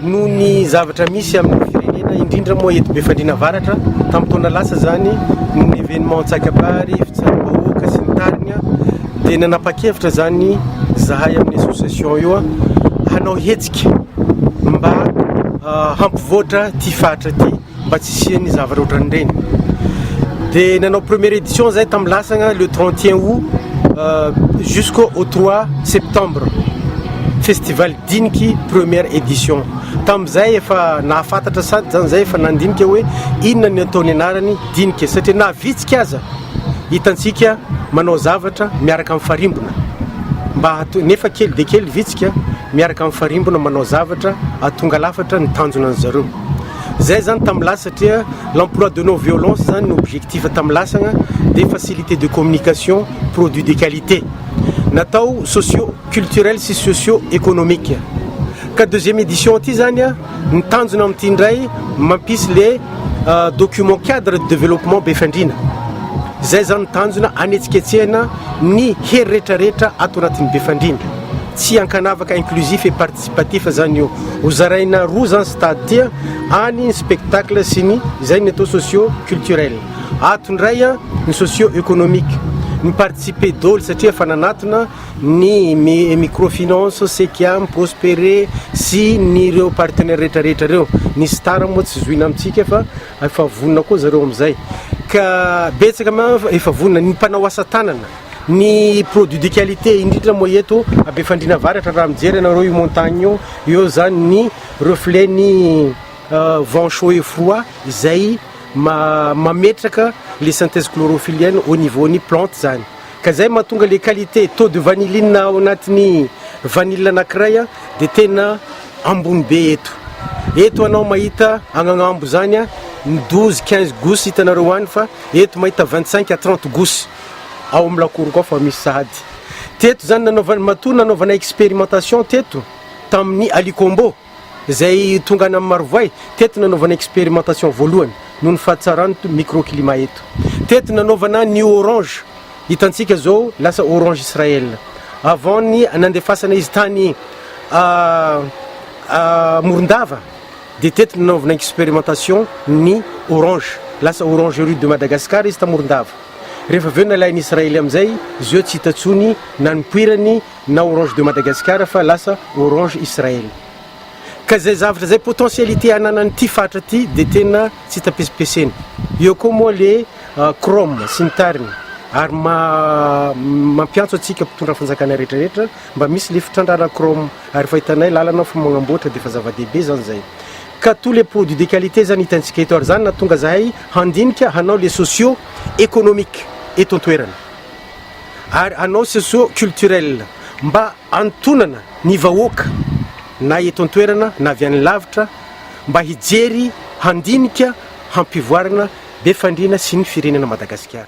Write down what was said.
Noho ny zavatra misy amin'ny firenena, indrindra moa eto Befandriana Avaratra, tamin'ny taona lasa izany, noho ny événement antsakabary, fitsaram-bahoaka sy ny tariny, dia nanapa-kevitra izany izahay amin'ny association io hanao hetsika mba hampivoatra ity faritra ity. mba tsy hisian'ny zavatra ohatran'ireny dia nanao première édition zay tamin'ny lasagna le 31 août euh, jusqu'au 3 septembre festival diniky première édition tamin'izay efa nahafatatra sady zany zay efa nandinika hoe inona ny ataony anarany dinika satria na vitsika aza hitantsika manao zavatra miaraka amin'ny farimbona mba hato nefa kely de kely vitsika miaraka amin'ny farimbona manao zavatra atonga lafatra ny tanjona an'zareo Zay zany tam lasa satria l'emploi de non violence zany no objectif tam lasagna de facilité de communication produit de qualité natao socio culturel sy socio économique ka deuxième édition ty zany a ny tanjona amity ndray mampisy le euh, document cadre de développement Befandriana zay zany tanjona anetsiketsehana ny hery retraretra ato anatin'ny Befandriana tsy ankanavaka inclusif et Tsy patif zany io. Ho zaraina roa zany stade ty a, any ny spectacle sy ny izay ny atao socio culturel. Ato indray a, ny socio economique. Ny participer doly satria efa nanatona ny micro finance, Cekiam, Prospere sy ny ireo partenaires rehetra rehetra ireo. Ny star moa tsy zohina amintsika fa efa vonona koa zareo amizay. Ka betsaka manko efa vonona. Ny mpanao asa tanana. Ny produit de qualité indrindra moa eto Befandriana Avaratra raha mijery ianareo io montagne io, eo izany ny reflet ny vent chaud et froid izay mametraka le synthèse chlorophyllienne au niveau ny plante izany. Ka izay no mahatonga le qualité taux de vanilline ao anatin'ny vanille anankiray dia tena ambony be eto. Eto anao mahita agny agnambo izany ny 12, 15 gousse hitanareo any fa eto mahita 25 à 30 gousse. ao amin'ny lakoriko ao fa misy sahady teto izany nanaovana matoa nanaovana expérimentation teto tamin'ny alikombo izay tonga any amin'ny marovoay teto nanaovana expérimentation voalohany noho ny fahatsarany microclimat eto teto nanaovana ny orange hitantsika izao lasa orange israel avant ny nandefasanay izy tany ah, ah, morondava Dia teto nanaovana expérimentation ny orange. Lasa orangerie de Madagascar izy tamorondava. Rehefa avy eo nalain'ny Israely amin'izay, izy io tsy hita intsony na ny poirany na orange de Madagascar fa lasa orange Israel. Ka izay zavatra izay potentialité ananan'ity faritra ity dia tena tsy hita pesipesena. Eo koa moa le chrome sy ny tariny ary maha mampiantso antsika mpitondra fanjakana rehetra rehetra. Mba misy le fitrandrahana chrome ary efa hitanay lalana ao fa magnamboatra dia efa zava-dehibe zany zay ka tout le produit de qualité zany hitantsika eto ary zany nahatonga zahay handinika hanao le socio economique eto an-toerana ary hanao socio culturel mba hanontonana ny vahoaka na eto an-toerana na avy any lavitra mba hijery handinika hampivoarana be fandriana sy ny firenena Madagasikara.